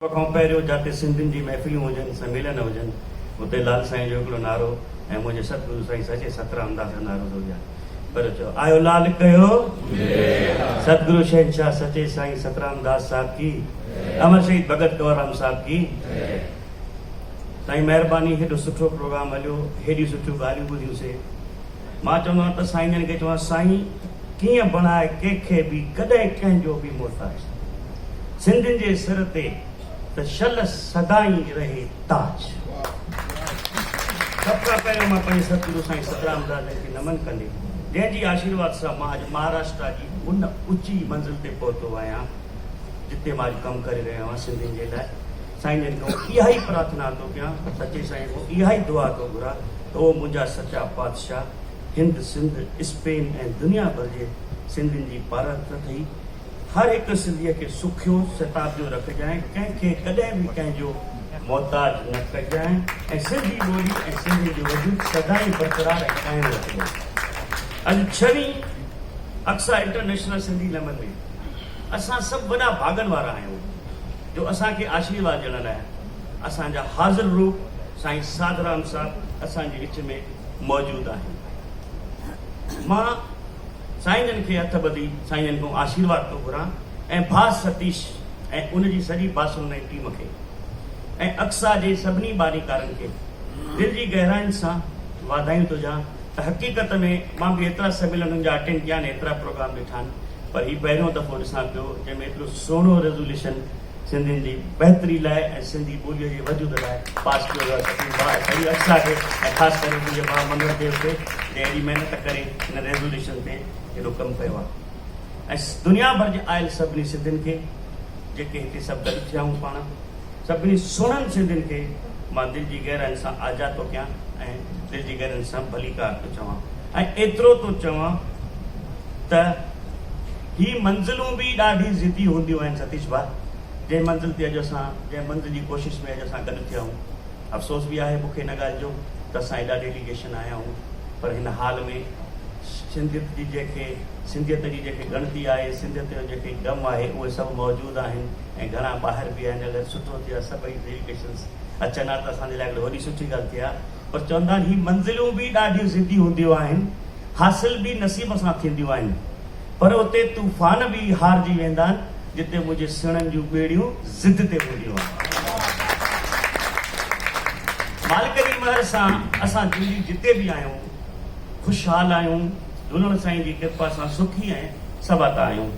سڀ کان پهريون جاتي سنڌين جي محفليون هجن، سميلن هجن، اتي لال سائين جو هڪڙو نعرو ۽ منهنجي ستگرو سائين سچي ستران انداز سان نعرو ٿو ڏيان پر چئو آيو لال ڪيو ستگرو شهنشاهه سچي سائين ستران داس صاحب ڪي امر شهيد ڀڳت ڪنوررام صاحب ڪي سائين مهرباني هيڏو سٺو پروگرام هليو هيڏيون سٺيون ڳالهيون ٻڌيون سي. مان چوندو ته سائين جن کي چوان سائين ڪيئن بڻائي ڪنهن کي به ڪڏهن ڪنهن جو به محتاج نه سنڌين جي سر تي ته شل سدائين رهي تاج سڀ کان پهريون مان پنهنجي ستگرو سائين سترام داس جن کي نمن ڪندي جنهن جي آشيرواد سان مان اڄ مهاراشٽرا جي ان اوچي منزل تي پهتو آهيان جتي مان اڄ ڪم ڪري رهيو آهيان سنڌين جي لاء سائين جن کان آئون اها ئي پرارٿنا ٿو ڪيان، سچي سائين کان اها ئي دعا ٿو گهران ته او منهنجا سچا پادشاهه، هند، سنڌ، اسپين ۽ دنيا ڀر جي سنڌين جي پارت نه ٿئي، هر هڪ سنڌيء کي سکيو ستابجو رکجانء، ڪنهن کي ڪڏهن به ڪنهن جو محتاج نه ڪجانء ۽ سنڌي ٻولي ۽ سنڌين جو وجود سدائين برقرار ۽ قائم رکجانء. اڄ ڇهين اقصيٰ انٽرنيشنل سنڌي لمن ۾. اسان سڀ وڏا ڀاڳن وارا آهيون جو اسان کي آشيرواد ڏيڻ لاء اسان جا حاضر روح سائين ساڌرام صاحب اسان جي وچ ۾ موجود آهن. مان سائين جن کي هٿ ٻڌي سائين جن کان آشيرواد ٿو گهران ۽ ڀاء ستيش ۽ ان جي سڄي باسلونائي ٽيم کي ۽ اقصيٰ جي سڀني ٻاريڪارن کي دل جي گهراين سان واڌايون ٿو ڏيان حقيقت ۾ مان به ايترا سميلنن جا اٽينڊ ڪيا آهن ايترا پروگرام ڏٺا آهن پر هي پهريون دفعو ڏسان پيو جنهن ۾ ايترو سهڻو ريزوليوشن سنڌين جي بهتري لاء ۽ سنڌي ٻوليء جي وجود لاء پاس ڪيو ويو آهي تقرير ڀاء سعيد اقصيٰ کي ۽ خاص ڪري منهنجي ڀاء منگل ديو کي جنهن ايڏي محنت ڪري هن ريزوليوشن تي ايڏو ڪم ڪيو آهي ۽ دنيا ڀر جي آيل سڀني سنڌين کي جيڪي هتي سڀ گڏ ٿيا آهيون پاڻ سڀني سوڙهن سنڌين کي مان دل جي گهرائين سان آجيا ٿو ڪيان ۽ دل جي گهرائين سان ڀليڪار ٿو چوان ۽ ايترو ٿو چوان ته هي منزلون به ڏاڍي ضدي هونديون آهن ستيش ڀاء جنهن منزل تي اڄ اسان جنهن منزل جي ڪوشش ۾ اڄ اسان گڏ ٿيا آهيون افسوس به آهي مون کي ان ڳالهه جو ته اسان ايڏا ڊيليگيشن آيا آهيون پر هن حال ۾ سنڌيت جي جنهن کي سنڌيت جي جنهن کي ڳڻتي آهي سنڌيت جو جنهن کي غم آهي اهي سڀ موجود آهن ۽ گهڻا ٻاهر به آهن اگر سٺو ٿئي ها سڀئي ڊيليگيشنز اچن ها ته اسان جي لاء هڪڙي وڏي سٺي ڳالهه ٿئي ها پر چون ٿا هي منزلون به ڏاڍيون ضدي هونديون آهن حاصل به نصيب سان ٿينديون آهن پر اتي طوفان به هارجي ويندا آهن جتي منهنجي سيڻن جون ٻيڙيون ضد تي هونديون آهن مالڪ جي مهر سان اسان جوڙي جتي به آهيون خوشحال آهيون جهولڻ سائين جي ڪرپا سان سکي ۽ سباتا آهيون.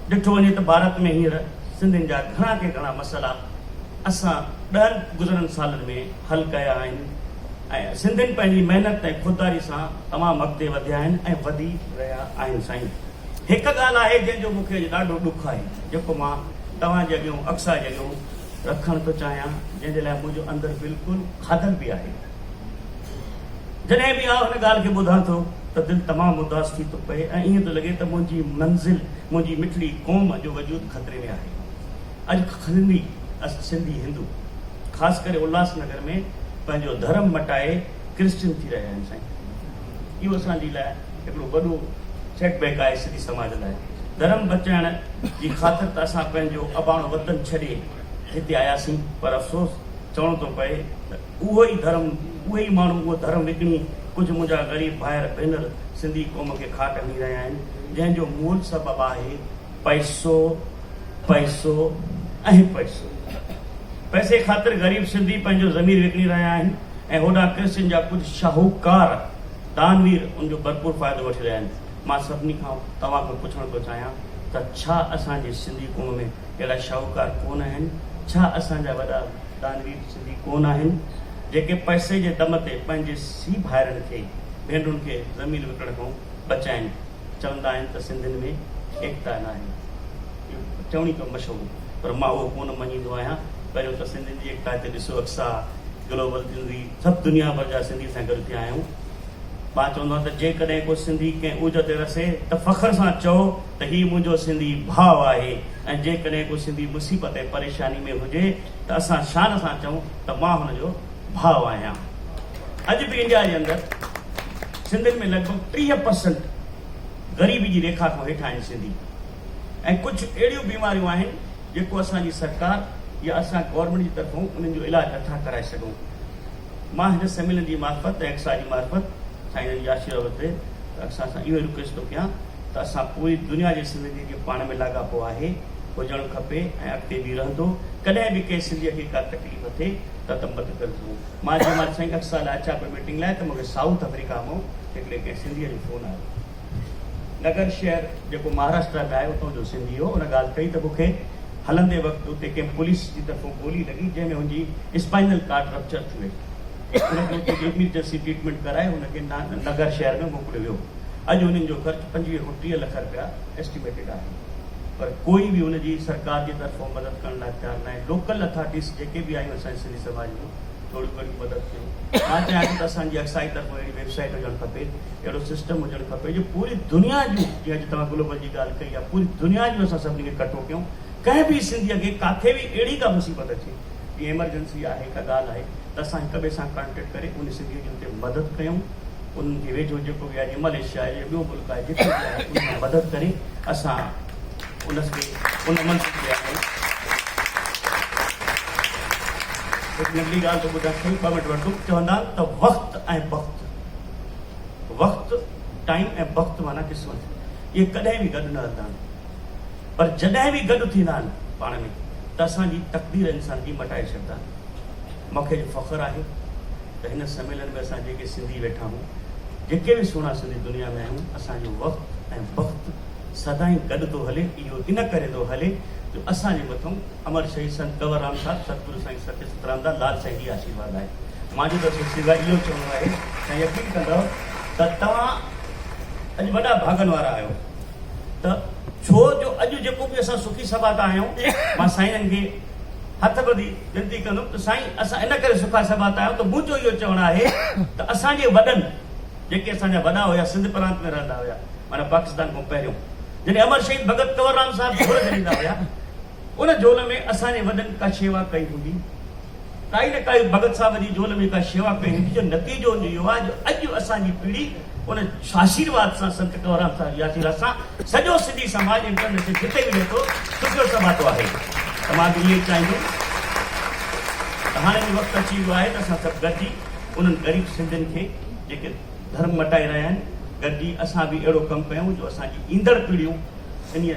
ڏٺو وڃي ته ڀارت ۾ هينئر سنڌين جا گهڻا ڪي گهڻا مسئلا اسان ڏهن گذريل سالن ۾ حل ڪيا آهن ۽ سنڌين پنهنجي محنت ۽ خودداري سان تمام اڳتي وڌيا آهن ۽ وڌي رهيا آهن سائين هڪ ڳالهه آهي جنهن جو مون کي اڄ ڏاڍو ڏک آهي جيڪو مان توهان جي اڳيون اڪساهه جي اڳيون رکڻ ٿو چاهيان جنهن جي لاء منهنجو اندر بلڪل کاڌل به آهي. جڏهن به آء ان ڳالهه کي ٻڌان ٿو ته دل تمام اداس ٿي ٿو پئي ۽ ائين ٿو لڳي ته منهنجي منزل، منهنجي مٺڙي قوم جو وجود خطري ۾ آهي. اڄ کلندي اسان سنڌي هندو خاص ڪري الهاس نگر ۾ پنهنجو ڌرم مٽائي ڪرسچن ٿي رهيا آهيون سائين. اهو اسان جي لاء هڪڙو وڏو سيٽ بيڪ آهي سنڌي سماج لاء. ڌرم بچائڻ جي خاطر ته اسان پنهنجو اباڻو وطن ڇڏي هتي آياسين پر افسوس چوڻو ٿو پئي ته. اهو ئي ڌرم، اهي ئي ماڻهو اهو ڌرم وڪڻي ڪجهه منهنجا غريب ڀائر ڀينر سنڌي قوم کي کاٽ هڻي رهيا آهن جنهن جو مول سبب آهي پئسو پئسو ۽ پئسو. پئسي خاطر غريب سنڌي پنهنجو ضمير وڪڻي رهيا آهن ۽ هوڏانهن ڪرسچن جا ڪجهه شاهوڪار دانوير ان جو ڀرپور فائدو وٺي رهيا آهن. مان سڀني کان توهان کان پڇڻ ٿو چاهيان ته ڇا اسان جي سنڌي قوم ۾ اهڙا شاهوڪار ڪونه آهن؟ ڇا اسان جا وڏا دانوير به ڪونه آهن، جيڪي پئسي جي دم تي پنهنجي سي ڀائرن کي، ڀينڊون کي زمين وڪڻڻ کان بچائين. چوندا آهن ته سنڌين ۾ ايڪتا ناهي. اهو چوڻي ته مشهور پر مان اهو ڪونه مڃيندو آهيان. پهريون ته سنڌين جي ايڪتا تي ڏسو اڪسا گلوبل سنڌي سڀ دنيا ڀر جا سنڌي سان گڏ ٿيا آهيون. مان چوندو آهيان ته جيڪڏهن ڪو سنڌي ڪنهن عهدي تي رسي ته فخر سان چئو ته هي منهنجو سنڌي ڀاء آهي ۽ جيڪڏهن ڪو سنڌي مصيبت ۽ پريشاني ۾ هجي ته اسان شان سان چئون ته مان هن جو ڀاء آهيان. اڄ به انڊيا جي اندر سنڌين ۾ لڳ ڀڳ ٽيهه پرسنٽ غريبي جي ريکا کان هيٺ آهن سنڌي ۽ ڪجهه اهڙيون بيماريون آهن جيڪو اسان جي سرڪار يا اسان گورنمينٽ جي طرفون انهن جو علاج نٿا ڪرائي سگهون. مان هن سميلن جي معرفت ۽ اڪسا جي معرفت سائين جن جي آشيرواد تي اڪسا سان اهو رڪويسٽ ٿو ڪيان. ته اسان پوري دنيا جي سنڌين کي پاڻ ۾ لاڳاپو آهي، هجڻ کپي ۽ اڳتي به رهندو، ڪڏهن به ڪنهن سنڌيء کي ڪا تڪليف ٿئي ته ته مت ڪر ڌون. مان جنهن مهل سائين اڪسا لاء اچان پيو ميٽنگ لاء ته مونکي سائوٿ آفريڪا مئو هڪڙي ڪنهن سنڌيء جو فون آيو. نگر شهر جيڪو مهاراشٽرا ۾ آهي اتان جو سنڌي هو، ان ڳالهه ڪئي ته مونکي هلندي وقت اتي ڪنهن پوليس جي طرفون گولي لڳي جنهن ۾ هن جي اسپائنل ڪارڊ رپچر ٿي وئي. هن کي اتي جي ايمرجنسي ٽريٽمينٽ ڪرائي هن کي نگر شهر ۾ موڪليو ويو. اڄ انهن جو خرچ پنجويهه کان ٽيهه لک رپيا ايسٽيميٽيڊ آهي پر ڪوئي به ان جي سرڪار جي طرفون مدد ڪرڻ لاء تيار ناهي لوڪل اٿارٽيز جيڪي به آهيون اسان جي سنڌي سماج جون ٿوريون گهڻيون مدد ڪيون مان چاهيان ٿو ته اسان جي اڪسائيز طرفون اهڙي ويب سائيٽ هجڻ کپي اهڙو سسٽم هجڻ کپي جو پوري دنيا جون جي اڄ توهان گلوبل جي ڳالهه ڪئي آهي پوري دنيا جون اسان سڀني کي ڪٺو ڪيون ڪنهن به سنڌي کي ڪاٿي به اهڙي ڪا مصيبت اچي جي ايمرجنسي آهي ڪا ڳالهه آهي ته اسان هڪ ٻئي سان ڪانٽيڪٽ ڪري ان سنڌي جي اتي مدد ڪيون ان کي ويجهو جيڪو به اڄ ملائيشيا آهي يا ٻيو ملڪ آهي جتي به آهي ان کان مدد ڪري اسان ان کي ان منصب تي آڻي هڪ ننڍڙي ڳالهه ٿو ٻڌان کڻي ٻه منٽ وٺندم چوندا آهن ته وقت ۽ بخت وقت ٽائيم ۽ بخت معنيٰ قسمت اهي ڪڏهن به گڏ نه هلندا آهن پر جڏهن به گڏ ٿيندا آهن پاڻ ۾ ته اسان جي تقدير انسان جي مٽائي ڇڏندا آهن مونکي جو فخر آهي ته هن سميلن ۾ اسان جيڪي سنڌي ويٺا آهيون، جيڪي به سهڻا سنڌي دنيا ۾ آهيون، اسان جو وقت ۽ بخت سدائين گڏ ٿو هلي، اهو ان ڪري ٿو هلي جو اسان جي مٿئون امر شهيد سنت ڪنور رام صاحب، ستگرو سائين ستي سترام دا لال سائين جي آشيرواد آهي. مانجو ته سر سواء اهو چوڻو آهي ته يقين ڪندؤ ته توهان اڄ وڏا ڀاڳن وارا آهيو ته ڇو جو اڄ جيڪو به اسان سکي سباتا آهيون مان سائينن کي هٿ ٻڌي وينتي ڪندم ته سائين اسان ان ڪري سکا سڀا تي آيا آهيون ته منهنجو اهو چوڻ آهي ته اسان جي وڏن جيڪي اسان جا وڏا هيا سنڌ پرانت ۾ رهندا هيا معنيٰ پاڪستان کان پهريون جڏهن امر شهيد ڀڳت ڪنور رام صاحب جهول جهليندا هيا ان جهول ۾ اسان جي وڏن ڪا شيوا ڪئي هوندي ڪائي نه ڪائي ڀڳت صاحب جي جهول ۾ ڪا شيوا ڪئي هوندي جو نتيجو ان جو اهو آهي جو اڄ اسان جي پيڙهي ان آشيرواد سان سنت ڪنوررام صاحب جي آشيرواد سان سڄو سنڌي سماج انٽرنيشنل جتي به ويٺو شڪر سباٽو آهي ته مان به ائين چاهيندس ته هاڻي به وقت اچي ويو آهي ته اسان سڀ گڏجي انهن غريب سنڌين کي جيڪي ڌرم مٽائي رهيا آهن گڏجي اسان به اهڙو ڪم ڪيون جو اسان جي ايندڙ پيڙهيون انهي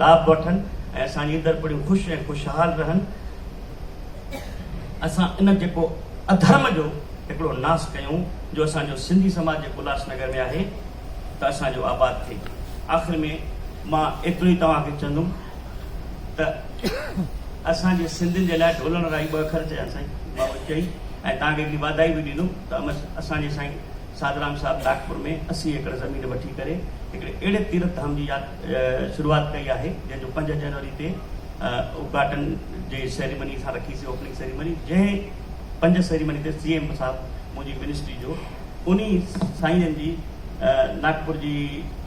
لاڀ وٺن ۽ اسان جي ايندڙ پيڙهيون خوش ۽ خوشحال رهن اسان ان جيڪو اڌرم جو هڪڙو ناس ڪيون. جو اسان جو سنڌي سماج جيڪو الهاس نگر ۾ آهي ته اسان جو آباد ٿئي. آخر ۾ مان ايترو ئي توهان کي چوندم ته اسان جي سنڌين جي لاء ڍولڻ رائي ٻه اکر چيا سائين بابت چئي ۽ توهان کي هڪڙي واڌائي به ڏيندم ته امس اسان جي سائين سادرام صاحب ناگپور ۾ اسي ايڪڙ زمين وٺي ڪري هڪڙي اهڙي تيرٿ ڌام جي ياد شروعات ڪئي آهي جنهن جو پنج جنوري تي ادگهاٽن جي سيريمني اسان رکي سي اوپننگ سيريمني جنهن پنج سيريمني تي سي ايم صاحب منهنجي منسٽري جو انهي سائين جي ناگپور جي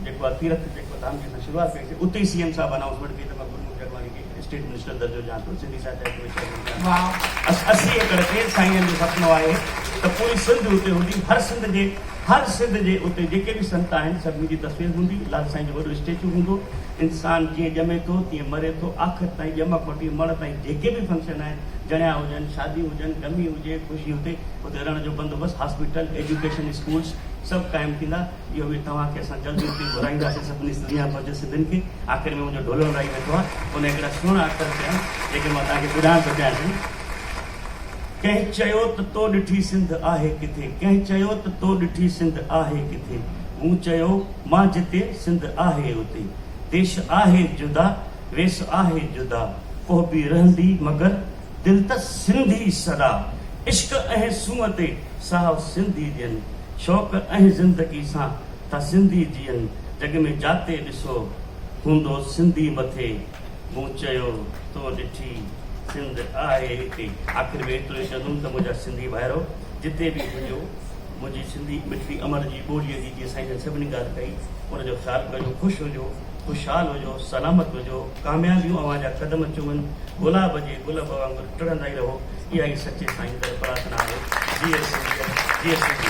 جيڪو آهي تيرٿ جيڪو ڌام جي اسان شروعات ڪئي سي اتي ئي سي ايم صاحب انائونسمينٽ ڪئي ته مان گرموک جگواري کي اسٽيٽ منسٽر درجو ڏيان ٿو سنڌي ساهتيه اڪيڊمي چيئرمين ڪيان ٿو بس اسي ايڪڙ تي سائين جو سپنو آهي ته پوري سنڌ اتي هوندي هر سنڌ جي هر سنڌ جي اتي جيڪي به سنت آهن سڀني جي تصوير هوندي لال سائين جو وڏو اسٽيچو هوندو انسان جيئن ڄمي ٿو تيئن مري ٿو آخر تائين ڄم کان وٺي مڙ تائين جيڪي به فنڪشن آهن جڻيا هجن شاديون هجن ڳمي هجي خوشي هتي اتي رهڻ جو بندوبست، هاسپيٽل، ايجوڪيشن، اسڪولز سڀ قائم ٿيندا. اهو به توهان کي اسان جلد ئي اتي گهرائينداسين سڀني سنڌ دنيا ڀر جي سنڌين کي. آخر ۾ منهنجو ڍولو لڙائي ويٺو آهي ان هڪڙا سهڻا اکر چيا آهن جيڪي مان توهان کي ٻڌائڻ ٿو چاهيان سائين. ڪنهن چيو ته تو ڏٺي سنڌ آهي ڪٿي ڪنهن چيو ته تو ڏٺي سنڌ آهي ڪٿي مون چيو مان جتي سنڌ آهي اتي ديش آهي جدا ويس آهي جدا ڪهبي رهندي مگر دل ته سنڌي سدا عشق ۽ سونهن تي ساهو سنڌي جيئن شوق ۽ زندگي سان ٿا سنڌي جيئن جڳ ۾ جاتي ڏسو هوندو سنڌي مٿي مون چيو تو ڏٺي سنڌ آهي هتي آخر ۾ ايترو ئي چوندم ته منهنجا سنڌي ڀائرو جتي به هجو منهنجي سنڌي مٺڙي امڙ جي ٻولي جي جيئن سائين جن سڀني ڳالهه ڪئي ان جو خيال ڪجو خوش هجو. خوشحال هجو، سلامت هجو، ڪاميابيون اوهان جا قدم چمن، گلاب جي گل به وانگر ٽڙندا ئي رهو، اها ئي سچي سائين ڪر پرارٿنا آهي، جيئي سنڌيت، جيئي سنڌي.